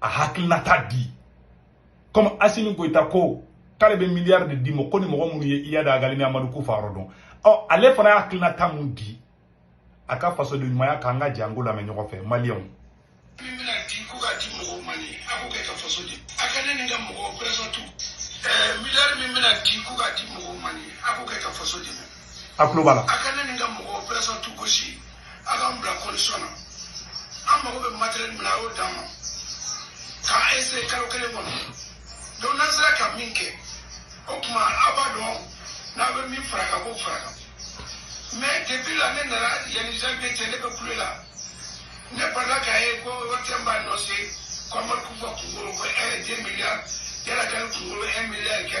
a hakilinata di comme asimi goyita ko k'ale bɛ miliyari de d'i ma ko ni mɔgɔ minnu ye iyad agali ni amadu kufa yɔrɔ dɔn ɔ ale fana y'a hakilinata mun di a ka fasoden ɲumanya k'an ka jɛ an k'o lamɛn ɲɔgɔn fɛ maliyɛnw min bɛna di ko k'a di mɔgɔw ma nin a k'o kɛ ka faso di a ka ne ni n ka mɔgɔw operation tu miliyari min bɛna di ko k'a di mɔgɔw ma nin a k'o kɛ ka faso dɛmɛ a tulo b'a la. a ka ne ni n ka mɔgɔw operation tu gosi a k'an bila condition na an mago bɛ matériel min na a y'o d'an ma k'an essayer kalo kelen kɔnɔ donc n'an sera ka min kɛ o tuma a b'a dɔn n'a bɛ min fara kan k'o fara kan mais depuis là ne nana yanni janvier cɛ ne bɛ kule la ne balala k'a ye ko ORTM b'a annoncer ko amadu kufa kunkolo ko un deux milliards iyad agali kunkolo un milliard kɛ.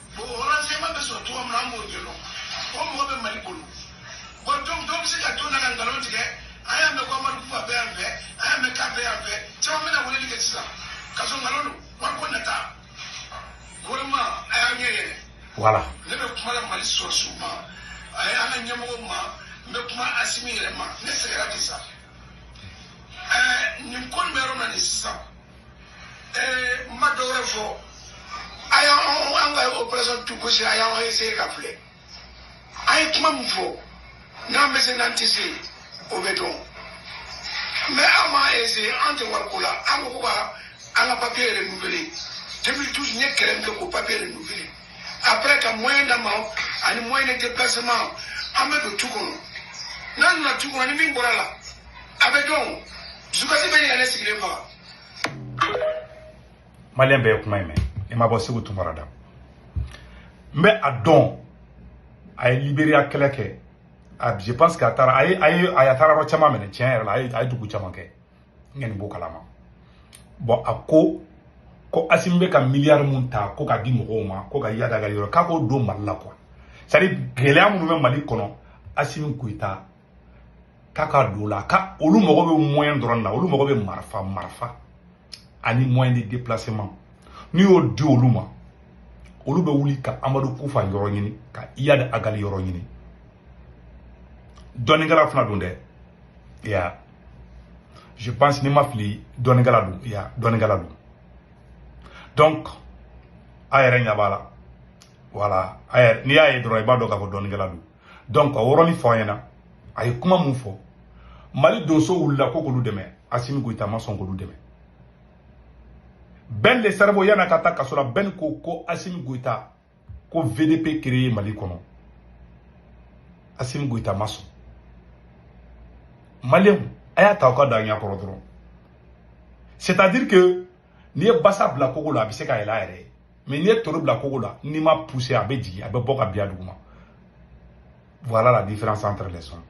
bon renseignement bɛ sɔrɔ cogo min na an b'o ɲɛdɔn o mɔgɔ bɛ mali bolo bon donc dɔ bɛ se ka to yan ka nkalon tigɛ an y'a mɛn ko amadu kufa bɛ yan fɛ an y'a mɛn k'a bɛ yan fɛ caman bɛna weleli kɛ sisan ka sɔrɔ nkalon don wari ko nata gouvernement a y'a ɲɛ yɛlɛ voilà ne bɛ kuma la mali sɔrɔdasiw ma ani an ka ɲɛmɔgɔw ma n bɛ kuma asimi yɛrɛ ma ne sɛgɛnna bi sa ɛɛ nin ko nin bɛ yɔrɔ min na nin sisan n ma dɔ wɛrɛ fɔ a y'an an ka operation tu gosi a y'an essayer ka filɛ an ye kuma min fɔ n'an bɛ se n'an tɛ se o bɛ dɔn mais an m'a essayer an tɛ wari ko la an ko ko ka an ka papier yɛrɛ renouveler 2012 n ye kɛlɛ min kɛ k'o papier renouveler après ka moyen d'an ma ani moyen de déplacement an bɛ don tu kɔnɔ n'an donna tu kɔnɔ ni min bɔra la a bɛ dɔn dusukasi bɛ ɲini ka ne sigilen faga maliyɛn bɛɛ ye kuma in mɛn min bɔra seku tunkara da n bɛ a dɔn a ye liberiya kɛlɛ kɛ a je pense que a taara a ye a ye a taara yɔrɔ caman minɛ tiɲɛ yɛrɛ la a ye a ye dugu caman kɛ n kɔni b'o kalama bon a ko ko asimi bɛ ka miliyari mun ta ko k'a di mɔgɔw ma ko ka iyad agali yɔrɔ k'a k'o don mali la quoi c'est à dire gɛlɛya minnu bɛ mali kɔnɔ asimi goyita k'a ka don la ka olu mago bɛ moyen dɔrɔn na olu mago bɛ marifa marifa ani moyen de déplacement n'i y'o di olu ma olu bɛ wuli ka amadu kufa yɔrɔ ɲini ka iyad agali yɔrɔ ɲini dɔnnikɛla fana don dɛ ya je pense ni n ma fili dɔnnikɛla don ya dɔnnikɛla don donc a yɛrɛ ɲɛ b'a la voilà a yɛrɛ n'i y'a ye dɔrɔn i b'a dɔn k'a fɔ dɔnnikɛla don donc o yɔrɔnin fɔ an ɲɛna a ye kuma min fɔ mali donso wulila ko k'olu dɛmɛ asimi goyita ma sɔn k'olu dɛmɛ Ben le cerveau yana ka taa kaso la Ben ko asimi goyita ko vdp créé mali kɔnɔ asimi goyita ma sɔn maliyɛnw a y'a ta aw ka da ɲa kɔrɔ dɔrɔn c'est à dire que n'i ye basa bila kogo la a bɛ se ka yɛlɛ a yɛrɛ ye mais n'i ye toro bila kogo la n'i m'a pousser a bɛ jigin a bɛ bɔ ka bin a duguma voilà la différence entre les hommes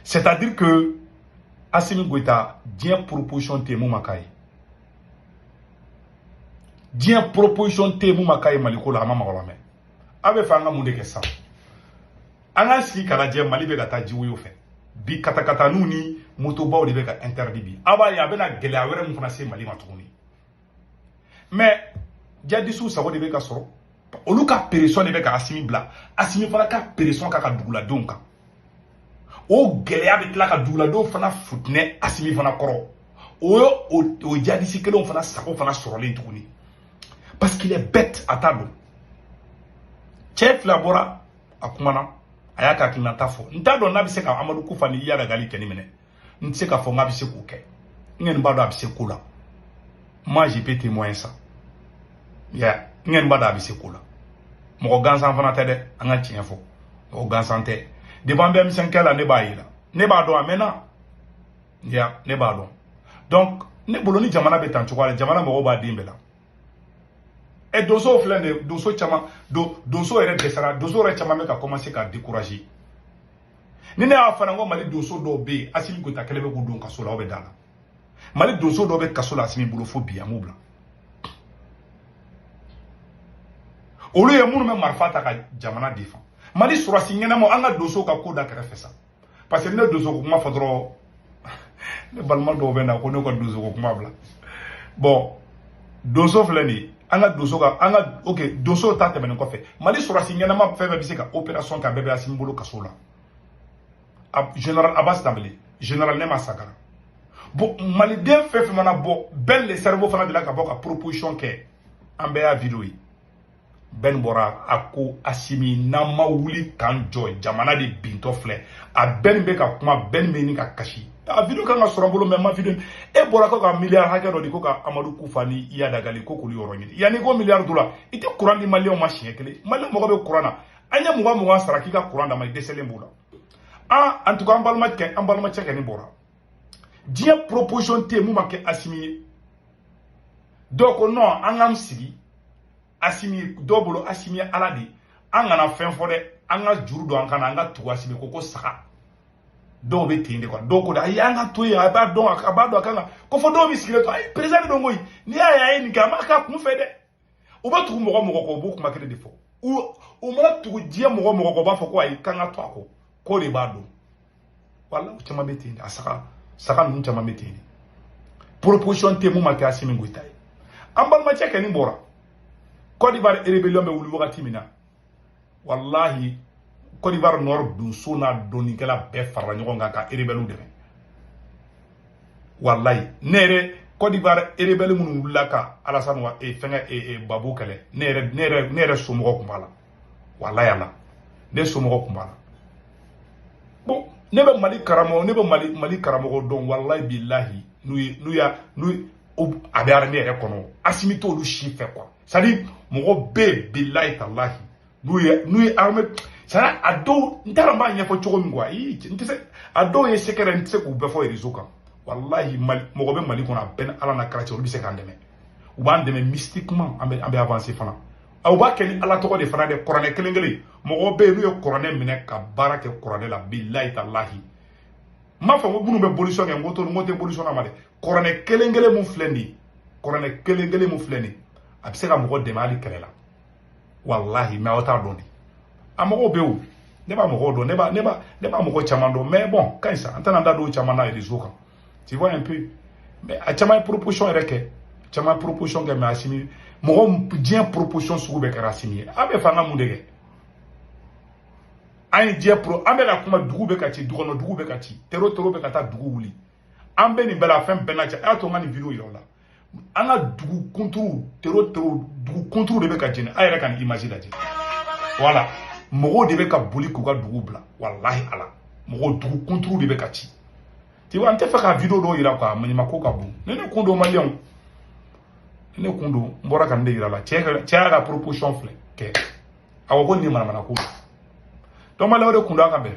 c'est à dire que asimi goyita diɲɛ proposition tɛ mun ma k'a ye diɲɛ proposition tɛ mun ma k'a ye maliko la a ma mɔgɔ lamɛn aw bɛ fɛ an ka mun de kɛ sisan an k'an sigi k'a lajɛ mali bɛ ka taa jiwoyo fɛ bi katakataninw ni motobaw de bɛ ka interdit bi aw b'a ye a bɛna gɛlɛya wɛrɛ min fana se mali ma tuguni mais jadisiw sago de bɛ ka sɔrɔ olu ka pression de bɛ ka asimi bila asimi fana ka pression k'a ka duguladenw kan o gɛlɛya bɛ tila ka duguladenw fana futinɛ asimi fana kɔrɔ o ye o jadisi kelenw fana sago fana sɔrɔlen tuguni parce qu'il est bête a t'a dɔn cɛ fila bɔra a kumana a y'a ka hakilinata fɔ n t'a dɔn n'a bɛ se ka amadu kufa ni iyad agali kɛni minɛ n tɛ se k'a fɔ n k'a bɛ se k'o kɛ n kɛni b'a dɔn a bɛ se ko la moi je peux témoigner ça n kɛni b'a dɔn a bɛ se ko la mɔgɔ gansan fana tɛ dɛ an ka tiɲɛ fɔ mɔgɔ gansan tɛ depuis an bɛ émission kɛ la ne b'a ye la ne b'a dɔn a mɛnna ya ne b'a dɔn donc ne bolo ni jamana bɛ tan cogoya la jamana mago b'a den bɛɛ la ɛ eh, donsow filɛ nin ye donso caman don donso yɛrɛ dɛsɛra donso yɛrɛ caman bɛ ka commencer ka décourager ni ne y'a fana n ko mali donso dɔw bɛ yen asimi goyita kɛlen bɛ k'u don kaso la aw bɛ d'a la mali donso dɔw bɛ kaso la asimi bolo fo bi a m'u bila olu ye minnu bɛ marifa ta ka jamana défendre mali sɔrɔsi ɲɛnamaw an ka donsow ka ko da kɛrɛfɛ sa parce que ne donso ko kuma fɔ dɔrɔn ne balima dɔw bɛ na ko ne ka donso ko kuma bila bon donso filɛ nin ye an ka donso ka an ka ok donso ta tɛmɛnen kɔfɛ mali sɔrɔsi ɲɛnama fɛn fɛn bɛ se ka operation kɛ a bɛɛ bɛ asimi bolo kaso la general abas danbele general nema sagara bon maliden fɛn fɛn mana bɔ Ben le cerveau fana delila ka bɔ ka proposition kɛ an bɛɛ y'a video ye Ben bɔra a ko asimi n'an ma wuli k'an jɔ jamana de bintɔ filɛ a Ben bɛ ka kuma Ben bɛ ni ka kasi a video kan ka sɔrɔ n bolo même a video e bɔra ko ka miliyari hakɛ dɔ di ko ka amadu kufa ni iyad agali ko k'olu yɔrɔ ɲini yanni ko miliyari dɔ la i tɛ kuran di maliyɛnw ma siɲɛ kelen maliyɛnw mago bɛ kuran na an ye mugan mugan sara k'i ka kuran d'an ma i dɛsɛlen b'o la en tout cas an balimacɛ kɛni bɔra diɲɛ proposition tɛ mun ma kɛ asimi ye dɔw ko non an k'an sigi asimi dɔw bolo asimi ye ala de ye an kana fɛn fɔ dɛ an ka juru don an kana an ka tugu asimi kɔ ko saga dɔw bɛ ten de quoi dɔw ko de ayi an ka to yen a b'a dɔn a b'a dɔn a kan ka ko fɔ dɔw bɛ sigilen to ayi président de don koyi n'i y'a ye a ye nin kɛ a m'a k'a kunfɛ dɛ u bɛ tugu mɔgɔ mɔgɔ kɔ u b'o kuma kelen de fɔ u mana tugu diɲɛ mɔgɔ mɔgɔ kɔ u b'a fɔ ko ayi k'an ka to a kɔ k'o de b'a dɔn wala u caman bɛ ten de a saga saga ninnu caman bɛ ten de proposition tɛ mun ma kɛ Asimi Goyita ye an balimacɛ kɛni bɔra Côte d'Ivoire rébellion bɛ wuli wagati min na walahi Côte d'Ivoire Nord donso n'a dɔnnikɛla bɛɛ farala ɲɔgɔn kan ka erebɛliw dɛmɛ walayi ne yɛrɛ Côte d'Ivoire erebɛli minnu wulila ka Alassane wa e fɛngɛ e, e, Gbagbo kɛlɛ ne yɛrɛ ne yɛrɛ ne yɛrɛ somɔgɔ tun b'a la walayi ala ne somɔgɔ tun b'a la bon ne bɛ Mali karamɔgɔ ne bɛ Mali Mali karamɔgɔ dɔn walayi bilahi n'u ye n'u y'a n'u a bɛ armée yɛrɛ kɔnɔ Assimi t'olu si fɛ quoi c'est-à-dire mɔgɔ bɛ bilayi talahi n'u ye n'u ye armée c'est-à-dire a dɔw n t'a dɔn n b'a ɲɛfɔ cogo min quoi ii n tɛ se a dɔw ye secret n tɛ se k'u bɛɛ fɔ réseau kan walahi mali mɔgɔ bɛ mali kɔnɔ a bɛɛ ni ala n'a kira cɛ olu bɛ se k'an dɛmɛ u b'an dɛmɛ mystiquement an bɛ an bɛ avancer fana u b'a kɛ ni ala tɔgɔ de fana dɛ kuranɛ kelen kelen mɔgɔ bɛ yen n'u ye kuranɛ minɛ ka baara kɛ kuranɛ la bilayi talahi n m'a fɔ ko minnu bɛ bolisɔn kɛ n ko to n ko tɛ bolisɔnna ma dɛ kuranɛ kelen kelen mun filɛ nin ye kuranɛ kelen kelen mun filɛ nin ye a bɛ se ka mɔgɔ dɛmɛ hali kɛlɛ la walahi mais aw t'a dɔn de a mɔgɔw bɛ yen ne b'a mɔgɔw dɔn ne b'a ne b'a ne b'a mɔgɔ caman dɔn mais bon ka ɲi sa an tɛna an da don caman na réseau kan tu vois un peu mais a caman ye proposition yɛrɛ kɛ caman ye proposition kɛ mais Assimi mɔgɔ diɲɛ proposition sugu bɛɛ kɛra Assimi ye a bɛ fɛ an ka mun de kɛ an ye diɲɛ pro an bɛ ka kuma dugu bɛ ka ci dukɔnɔ dugu bɛ ka ci tero tero bɛ ka taa dugu wuli an bɛ nin bɛɛ la fɛn bɛɛ la cɛ a y'a to n ka nin video yira aw la an ka dugu kunturuw tero tero dugu kunturuw de bɛ ka jeni a yɛrɛ ka nin image lajɛ voilà mɔgɔw de bɛ ka boli k'u ka dugu bila walahi ala mɔgɔw dugu kunturuw de bɛ ka ci tu vois an tɛ fɛ ka video dɔw yira quoi maɲumako ka bon ne ne kun don maliyɛnw ne kun don n bɔra ka nin de yira la cɛ y'a ka proposition filɛ kɛ a ko ko nin ye manamanako ye donc maliyɛnw de kun don an ka bɛn